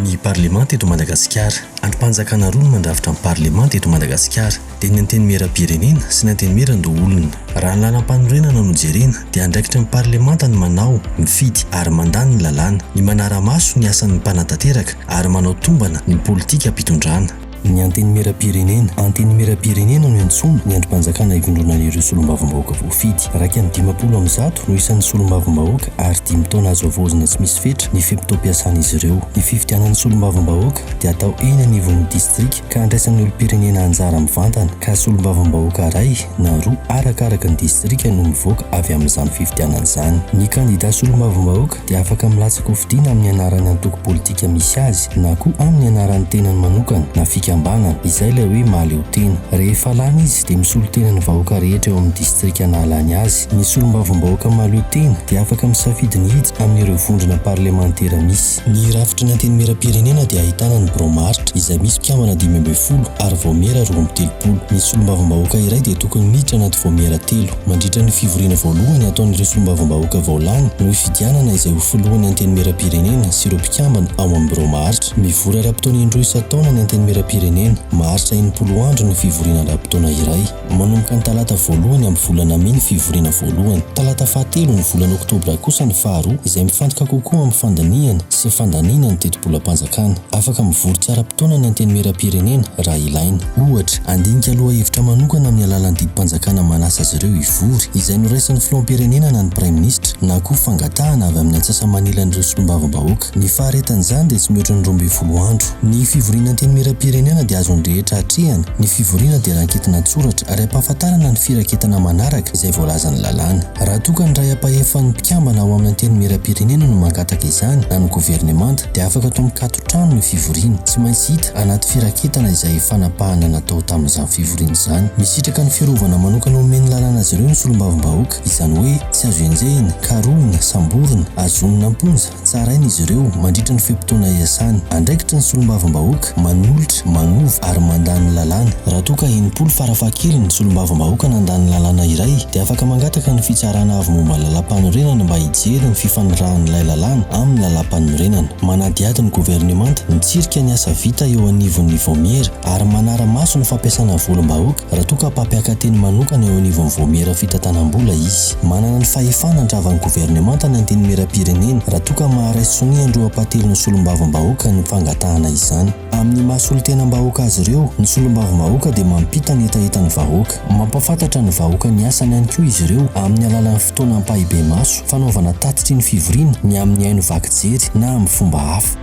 Ny parlemanta eto Madagasikara. Andrim-panjakana roa no mandrafitra ny parlemanta eto Madagasikara. dia ny Antenimierampirenena sy ny Antenimierandoholona. Raha ny lalam-panorenana no jerena dia andraikitry ny Parlemanta ny manao, mifidy ary mandà ny lalàna, ny manara-maso ny asan'ny mpanatanteraka ary manao tombana ny politikam-pitondrana. Ny Antenimierampirenena. Antenimierampirenena no iantsoana ny andrim-panjakana ivondronana ireo solombavambahoaka voafidy. Iraika amby dimampolo amin'ny zato no isan'ny solombavambahoaka ary dimy taona azo havaozina tsy misy fetra ny fe-potoam-piasan'izy ireo. Ny fifidianan'ny solombavambahoaka dia atao eny anivon'ny distrika. ka handraisan'ny olom-pirenena anjara mivantana ka solombavambahoaka iray na roa arakaraka ny distrika no mivoaka avy amin'izany fifidianana izany. Ny kandida solombavambahoaka dia afaka milatsaka ho fidiana amin'ny anaran'ny antoko politika misy azy na koa amin'ny anaran'ny tenany manokana na fikambanana, izay ilay hoe mahaleotena. Rehefa lany izy dia misolo tena ny vahoaka rehetra eo amin'ny distrika nahalany azy. Ny solombavambahoaka mahaleotena dia afaka misafidy ny hiditra amin'ireo vondrona parlemantera misy. Ny rafitry ny Antenimierampirenena dia ahitana ny Biraom aritra izay misy mpikambana dimy ambin'ny folo ary Vaomiera roa amby telopolo. Ny Solombavambahoaka iray dia tokony miditra anaty Vaomiera telo. Mandritra ny fivoriana voalohany ataon'ireo Solombavambahoaka vao lany no hifidianana izay ho Filohan'ny Antenimierampirenena sy ireo mpikambana ao amin'ny Biraom aritra. Mivory ara-potoana indroa isan-taona ny Antenimierampirenena. Maharitra enimpolo andro ny fivoriana ara-potoana iray. Manomboka ny talata voalohany amin'ny volana mey ny fivoriana voalohany. Talata fahatelo ny volana oktobra kosa ny faharoa, izay mifantoka kokoa amin'ny fandinihana sy fandaniana ny tetibolam-panjakana. Afaka mivory tsy ara-potoana ny Antenimierampirenena raha ilaina. Ohatra, handinika lohahevitra manokana amin'ny alalan'ny didim-panjakana manasa azy ireo hivory, izay noraisin'ny filoham-pirenena na ny praiminisitra, na koa fangatahana avy amin'ny antsasa-manilan'ireo solombavambahoaka. Ny faharetan'izany dia tsy mihoatra ny roa ambin'ny folo andro. Ny fivoriana Antenimierampirenena dia azon'ny rehetra atrehina, ny fivoriana dia ranketina an-tsoratra ary ampahafantarana ny firaketana manaraka izay voalazan'ny lalàna. Raha toa ka ny iray ampahefan'ny mpikambana ao amin'ny Antenimierampirenena no mangataka izany na ny governemanta dia afaka atao mikato trano ny fivoriana. Tsy maintsy hita anaty firaketana izay fanapahana natao tamin'izany fivoriana izany. Misitraka ny fiarovana manokana omen'ny lalàna azy ireo ny solombavambahoaka, izany hoe tsy azo enjehina, karohina, samborina, azonina am-ponja, Tsaraina izy ireo mandritra ny fe-potoana iasany. Andraikitry ny solombavambahoaka manolotra, manova ary mandà ny lalàna. Raha toa ka enimpolo farafahakeliny ny solombavambahoaka nandà ny lalàna iray dia afaka mangataka ny Fitsarana Avo Momba ny Lalàmpanorenana mba hijery ny fifanarahan'ilay lalàna amin'ny lalàmpanorenana. Manadihady ny governemanta mitsirika ny asa vita eo anivon'ny Vaomiera, ary manara-maso ny fampiasana volim-bahoaka raha toa ka mpampiaka-teny manokana eo anivon'ny Vaomiera Fitantanam-bola izy. Manana ny fahefana handravan'ny governemanta ny Antenimierampirenena raha toa ka maharaisy sonia an-dRoampatelon'ny Solombavambahoaka ny fangatahana izany. Amin'ny maha solontenam-bahoaka azy ireo, ny Solombavambahoaka dia mampita ny hetahetan'ny vahoaka. Mampahafantatra ny vahoaka ny asany ihany koa izy ireo amin'ny alalan'ny fotoana ampahibemaso, fanaovana tatitry ny fivoriana, ny amin'ny haino vaky jery na amin'ny fomba hafa.